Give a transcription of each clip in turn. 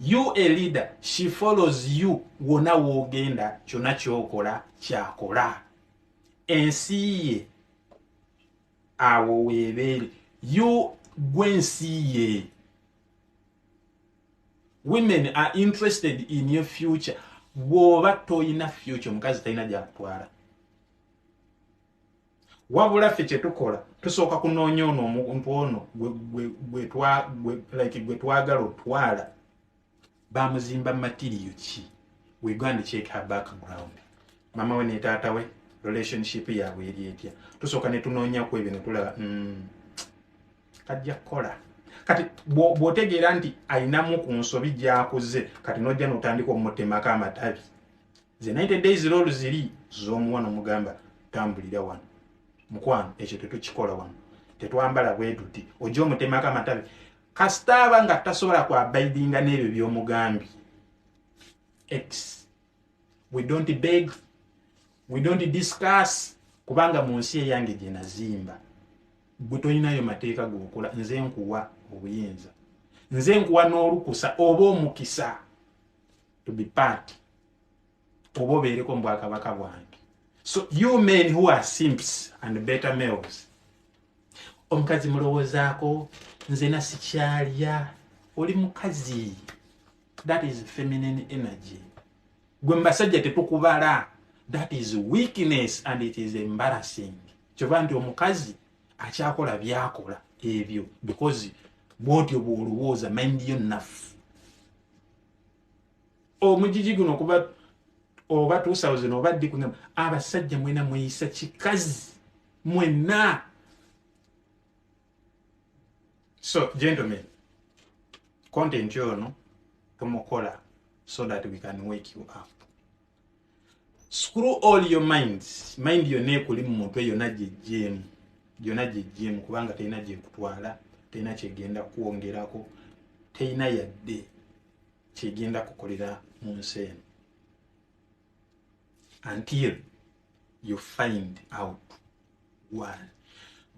You a leader she follows you wona wogenda kyona kyokola kyakola ensi ye awo webeere you gwe ensi ye women are interested in your future bwoba toyina future omukazi talina gyakutwala wabula ffe kyetukola tusooka kunoonya ono omuntu ono gwe twagala otwala bamuzimba matiriyo ki wegand check her background mama we netaata we relationship yaabwe eri etya tusooka netunoonyaku ebyo netulaba mm, kajja kukola kati bwotegeera nti ayinamu ku nsobi gyakuze kati nojja notandika omutemako amatabi ze 90 days lolu ziri zomuwa nomugamba tambulira wano mukwano ekyo tetukikola wano tetwambala bwetuti oja omutemako amatabi kasitaaba nga tasobola kwabaidinga n'ebyo byomugambi x we don't beg we don't discuss kubanga mu nsi eyange gyenazimba gwe tolinayo mateeka gokola nze nkuwa obuyinza nze nkuwa n'olukusa oba omukisa to be part oba obeereko mu bwakabaka bwange so you men who are simps and better males omukazi mulowoozaako nze nasikyalya oli mukazi that is feminine energy gwe mbasajja tetukubala that is weakness and it is embarrassing kyova nti omukazi akyakola byakola ebyo because bwotyo bwolowooza mind yo nafu omujiji guno okuba oba 2000 oba ddi kuna abasajja mwena mweyisa kikazi mwena so gentlemen content yono tumukola so that we can wake you up screw all your mind mind yonna ekuli mu mutwe yonna gyejjeemu yonna gyejjeemu kubanga terina gyekutwala terina kyegenda kukwongerako terina yadde kyegenda kukolera mu nsi eno until you find out one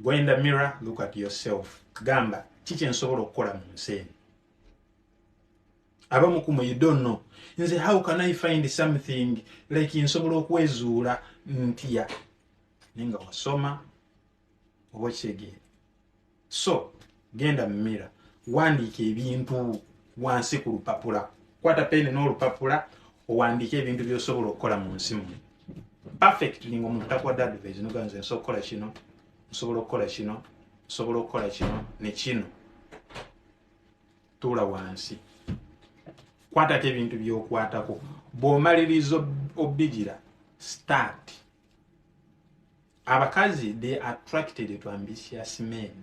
go in the mirror look at yourself gamba kiki nsobola okukola mu nsi eno abamu kumwe you don't know nze how can i find something like nsobola okwezuula ntya naye nga wasoma oba okitegeera so genda mu mira wandiika ebintu wansi ku lupapula kwata peni n'olupapula owandiika ebintu byosobola okukola mu nsi mu perfect linga omuntu takuwadde advise noganze nsobola okukola kino nsobola okukola kino nsobola okukola kino ne kino tuula wansi kwatako ebintu byokwatako bwomaliriza obigira start abakazi they attracted to ambitious men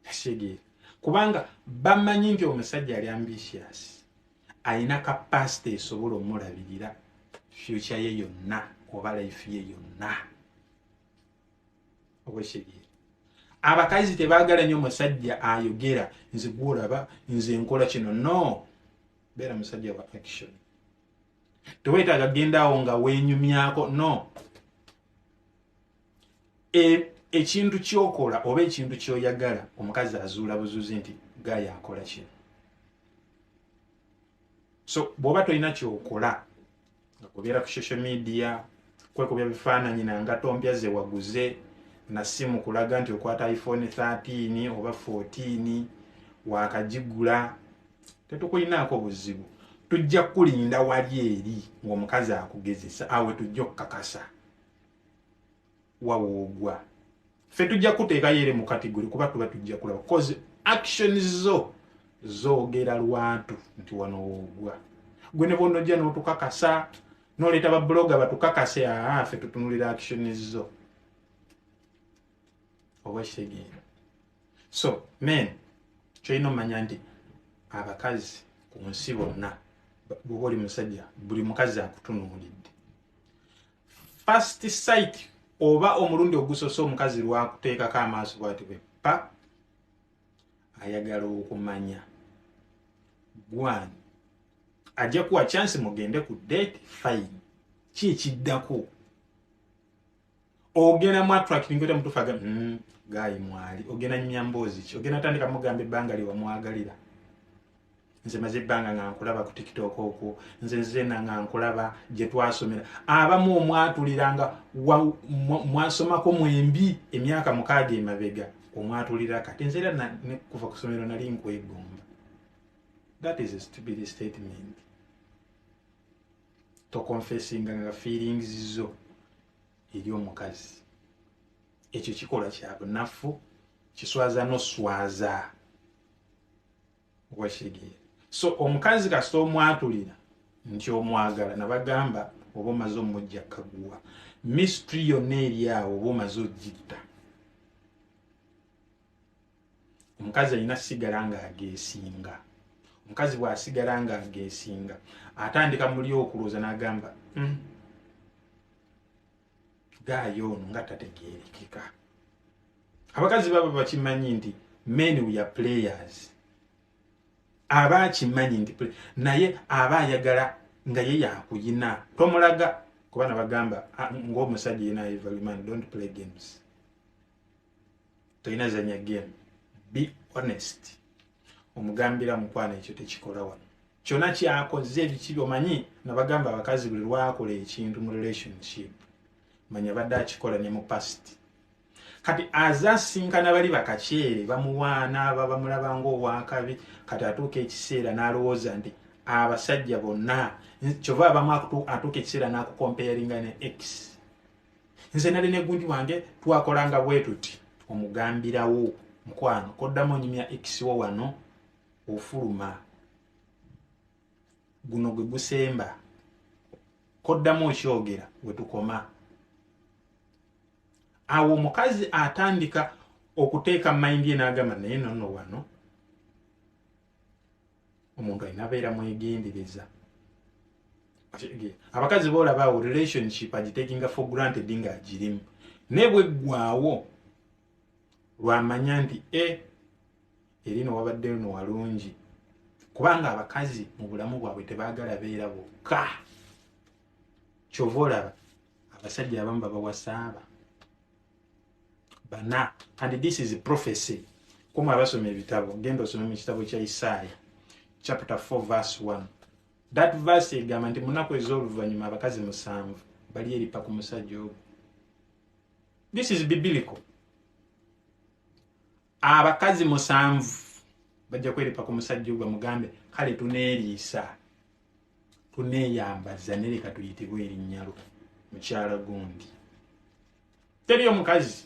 kitegeera kubanga bamanyi nti omusajja ali ambitious alina kapasite esobola omulabirira fyukya ye yonna oba laifu ye yonna obwesegere abakazi tebagala nyo musajja ayogera nze gwolaba nze nkola kino no beera musajja wa action tewetaaga gendawo nga wenyumyako no e, ekintu kyokola oba ekintu kyoyagala omukazi azuula buzuzi nti gaya akola kino so bwoba tolina kyokola nga kubeera ku social media kwekubya bifaananyi nanga tompya ze waguze na simu kulaga nti okwata iphone 13 oba 14 wakagigula tetukulinaako buzibu tujja kukulinda wali eri ng'omukazi akugezesa awe tujja okukakasa wawoogwa ffe tujja kuteekayo ere mu kategori kuba tuba tujja kulaba bcause action zo zoogera lwatu nti wano woogwa gwe ne bonna ojja n'otukakasa noleeta babuloga batukakase aa ffe tutunulira action zo obwekitegeera so men kyolina omanya nti abakazi ku nsi bonna bwoba oli musajja buli mukazi akutunuulidde first sight oba omulundi ogusose omukazi lwakuteekako amaaso bwati bwe pa ayagala okumanya gwani ajja kuwa chance mugende ku date fine ki ekiddako ogenda mu attracting kota mutufaga mm, gayi mwali ogenda nyumya mboozi ki ogenda tandika mugamba ebbanga lyewamwagalira nze maze ebbanga nga nkulaba ku tiktok okwo nze nzena nga nkulaba gye twasomera abamu omwatuliranga mwasomako mwembi emyaka mukaaga emabega omwatulira kati nze era kuva ku somero nali nkwegomba that is a stupid statement tokonfesinga nga feelings zo eri omukazi ekyo kikolwa kyabunafu kiswaza noswaza no wakitegeera so omukazi kasita omwatulira nti omwagala nabagamba oba omaze omujja kaguwa mistry yonna eri awo oba omaze ogitta omukazi alina sigala nga agesinga omukazi bwasigala nga agesinga atandika muli okulooza nagamba mm. gaayo ono nga tategerekeka abakazi baba bakimanyi nti men we are players aba akimanyi nti naye aba ayagala nga ye yakuyina tomulaga kuba nabagamba ah, ngaomusajja yena evaluman dont play games tolina zanya game be honest omugambira mukwano ekyo tekikola wano kyona kyakoze ebikibi omanyi nabagamba abakazi buli lwakola ekintu mu relationship manya badde akikola ne mu past kati aze asinkana bali bakakyere bamuwaana aba bamulaba ngaowakabi kati atuuka ekiseera n'alowooza nti abasajja bonna kyova abamu atuuka ekiseera n'akukomperinga ne x nze nali ne gundi wange twakolanga bwetuti omugambirawo mukwano koddamu onyumya x wo wano ofuluma guno gwe gusemba koddamu okyogera wetukoma awo omukazi atandika okuteeka mayindi enagamba naye nono wano omuntu alina beera mwegendereza abakazi boolabaawo relationship agitekinga for granted nga agirimu naye bweggwaawo lwamanya nti e eri no wabadde luno walungi kubanga abakazi mu bulamu bwabwe tebaagala beera bokka kyova olaba abasajja abamu babawasaaba bana and this is prophecy kumwe abasoma ebitabo genda osome mu kitabo kya isaaya chapter 4 verse 1 that verse egamba nti munaku ez'oluvannyuma abakazi musanvu bali eripa ku musajja ogwo this is biblical abakazi musanvu bajja kweripa ku musajja ogwa mugambe kale tuneeriisa tuneeyambaza nereka tuyitibwa erinnyalo mukyala gundi teri omukazi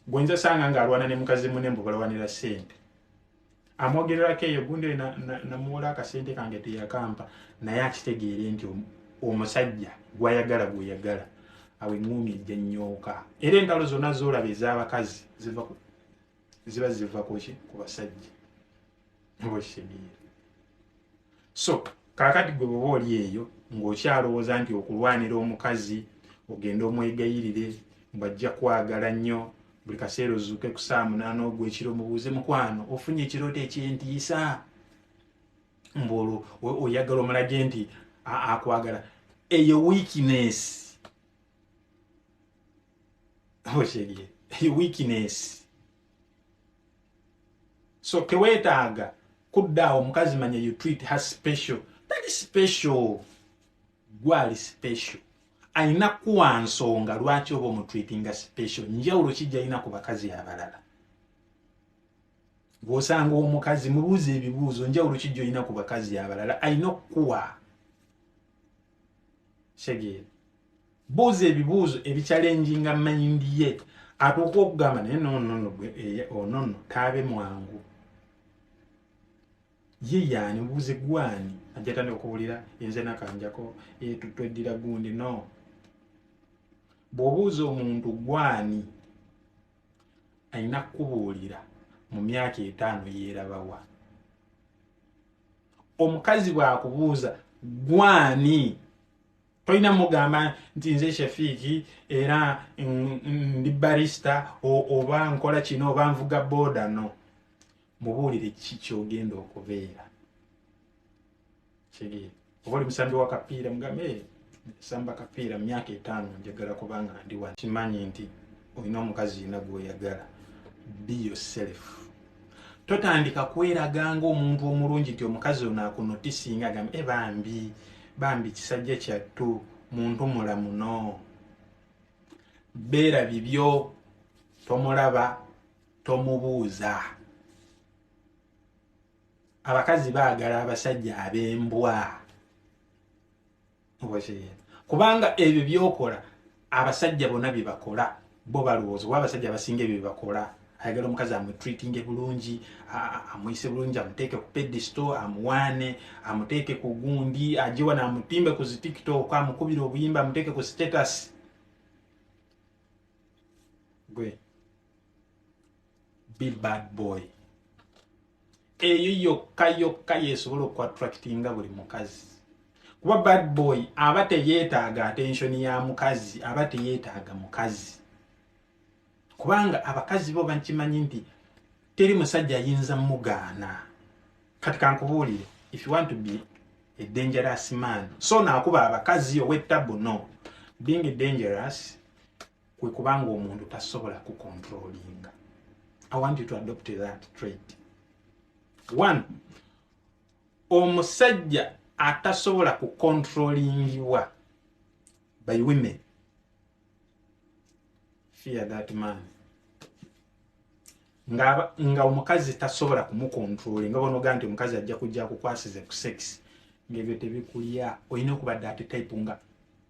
gwenza sanga ng'alwana ne mukazi mune mbu balawanira ssente amwogererako eyo gundi namuwola akasente kange teyakampa naye akitegeere nti omusajja gwayagala gweyagala awo eŋŋuumi ejja nyooka era entalo zonna zolaba ez'abakazi ziba ziva kuki ku basajja oba okitegeere so kakati gwe bwoba oli eyo ng'okyalowooza nti okulwanira omukazi ogenda omwegayirire mbajja kwagala nnyo buli kaseera ozuuke ku saa munaana ogwekiro mubuuze mukwano ofunye ekirooto ekyentiisa mbuolwo oyagala omulage nti akwagala eyo weakness okyerye eyo weakness so tewetaaga kuddaawo omukazi manya you treat her special tali special gwali special alina kuwa nsonga lwaki oba omutreatinga special njawulo kijja alina ku bakazi abalala gwosanga omukazi mubuuza ebibuuzo njawulo kijja olina ku bakazi abalala alina okukuwa segere buuza ebibuuzo ebikyalenjinga mayindi ye atuuka okugamba naye nonono eh, onono taabe mwangu ye yaani buuze gwani ajatandika okuwulira enze nakanjako eh, tweddira gundi no bw'obuuza omuntu gwani alina kukubuulira mu myaka etaano yeerabawa omukazi bwakubuuza gwani tolina mugamba nti nze shafiiki era ndi barista oba nkola kino oba nvuga booda no mubuulire ki kyogenda okubeera kigee oba oli musambi wa kapiira mugambe eh, samba kapiira mu myaka etaano njagala kubanga ndi wa kimanyi nti olina omukazi yina gwoyagala be yourself totandika kweraga nga omuntu omulungi nti omukazi ono akunotisinga agambe e bambi bambi kisajja kyattu muntu mulamuno beera bibyo tomulaba tomubuuza abakazi baagala abasajja ab'embwa kubanga ebyo byokola abasajja bona byebakola bo balowooza oba abasajja abasinga ebyo byebakola ayagala omukazi amutreatinge bulungi amuyise bulungi amuteeke ku pedisto amuwaane amuteeke ku gundi ajewa naamutimbe ku zitiktok amukubire obuyimba amuteeke ku status gwe be bad boy eyo yokka yokka yesobola okuattractinga buli mukazi kuba bad boy aba teyetaaga attention ya mukazi aba teyetaaga mukazi kubanga abakazi bo bakimanyi nti teri musajja ayinza mugaana kati kankubuulire if you want to be a dangerous man so naakuba abakazi ow'ettabu no being dangerous kwe kubanga omuntu tasobola ku controllinga i want you to adopt that trait one omusajja atasobola ku controllingiwa by women fear that man nga nga omukazi tasobola kumukontrole nga bonoga nti omukazi ajja kujja kukwasize ku sex ngebyo tebikulya olina okuba dati type nga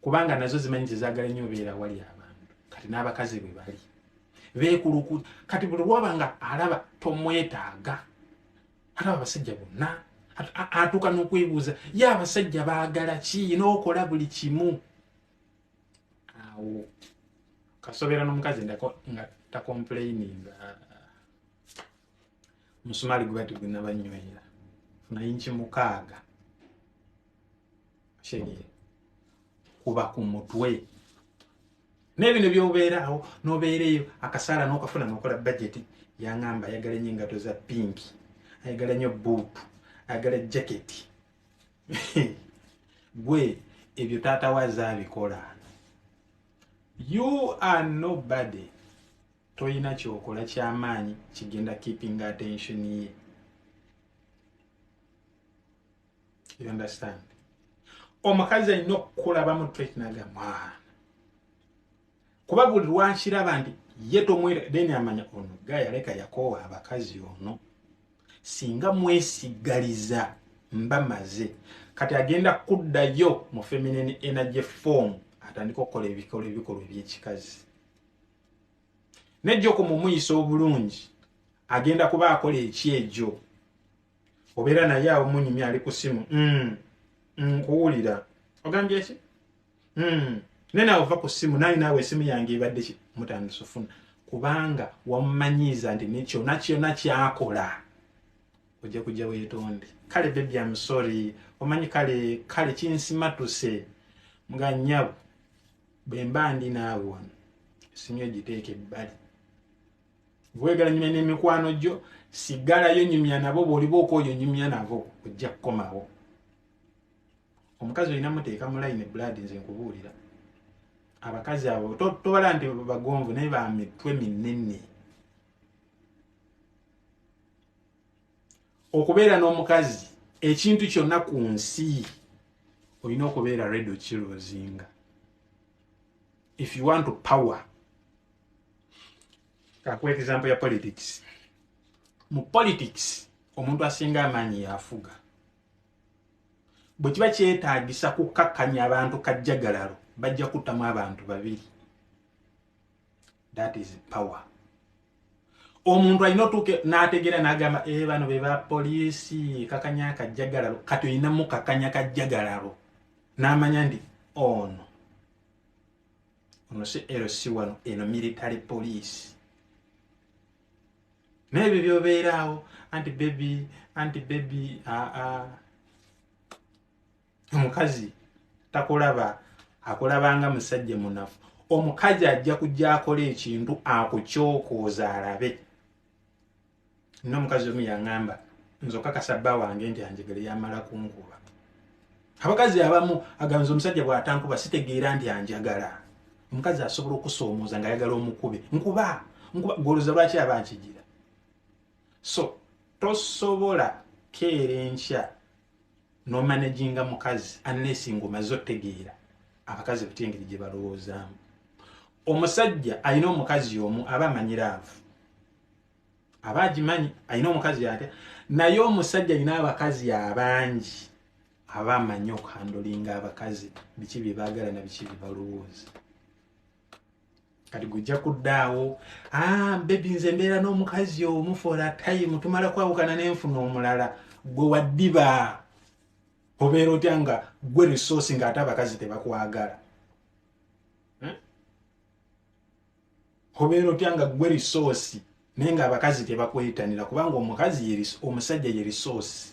kubanga nazo zimanyi nti zaagala nnyo obeera awali abantu kati n'abakazi bwe bali beekuluku kati buli lwaba nga alaba tomwetaaga alaba abasajja bonna atuuka n'okwebuuza ye abasajja baagala ki n'okola buli kimu awo kasobeera n'omukazi nga takomplaininga musumaali gubati gwenabanyweera funayinki mukaaga sherie kuba ku mutwe nebino byobeerawo nobeereyo akasaala nokafuna nokola bajeti yangamba ayagala enyo engato za pinki ayagala nyo buutu ayagala jaketi gwe ebyo taata waza abikola you are nobody toyina kyokola kyamaanyi kigenda keeping attention ye you understand omukazi alina okukulaba mu twekinaga mwana kuba buli lwankiraba nti ye tomwera then amanya ono ga yaleka yakoowa abakazi ono singa mwesigaliza mba maze kati agenda kuddayo mu feminine energy form atandika okukola ebikolo ebikolwa ebyekikazi nejjoko mumuyisa obulungi agenda kuba akola ekyejo obeera naye awo munyumya ali ku simu mm. Mm, nkuwulira ogambye ki mm. naye naawe ova ku simu naye naawe esimu yange ebadde ki mutandisa ofuna kubanga wamumanyiiza nti nekyona kyona kyakola ojja kujja wetonde kale bebi amusori omanyi kale kale kinsimatuse nga nyabo bwemba ndi naawe wano esimu egiteeka ebbali bwegala nyumya n'emikwano gyo sigalayo nyumya nabo bw'oliba okwoyo nyumya nabo ojja kukomawo omukazi olina muteeka mu layini ebulaadi nze nkubuulira abakazi abo tobala nti bagonvu naye ba mitwe minene okubeera n'omukazi ekintu kyonna ku nsi olina okubeera redo kilozinga if you want to power kakuwa example ya politics mu politics omuntu asinga amaanyi yafuga bwe kiba kyetaagisa kukkakkanya abantu kajjagalalo bajja kuttamu abantu babiri that is power omuntu alina otuuke n'ategeera n'agamba e bano be ba poliisi kakanya kajjagalalo kati olinamu kakanya kajjagalalo n'amanya nti ono oh, ono si lc wano eno military police naye ebyo byobeeraawo anti bebi anti bebi aa omukazi takulaba akulabanga musajja munafu omukazi ajja kujja akola ekintu akukyokooza alabe nomukazi omu yaŋamba nze okakasa bba wange nti anjegere yamala kunkuba abakazi abamu aganza omusajja bwatankuba sitegeera nti anjagala omukazi asobola okusoomooza nga ayagala omukube nkuba nkuba goloza lwaki aba nkigira so tosobola keera enkya no managinga mukazi unless ngomaze otegeera abakazi batya engeri gye balowoozaamu omusajja alina omukazi omu aba amanyi laavu aba agimanyi alina omukazi atya naye omusajja alina abakazi abangi aba amanyi okuhandolinga abakazi biki bye baagala na biki bye balowooza kati gujja kuddaawo ah, bebi nze mbeera n'omukazi omu for a time tumala kwawukana nenfuna omulala gwe waddiba obeera otya nga gwe resource nga ate abakazi tebakwagala hmm? obeera otya nga gwe resource naye nga abakazi tebakwetanira kubanga omukazi omusajja ye resource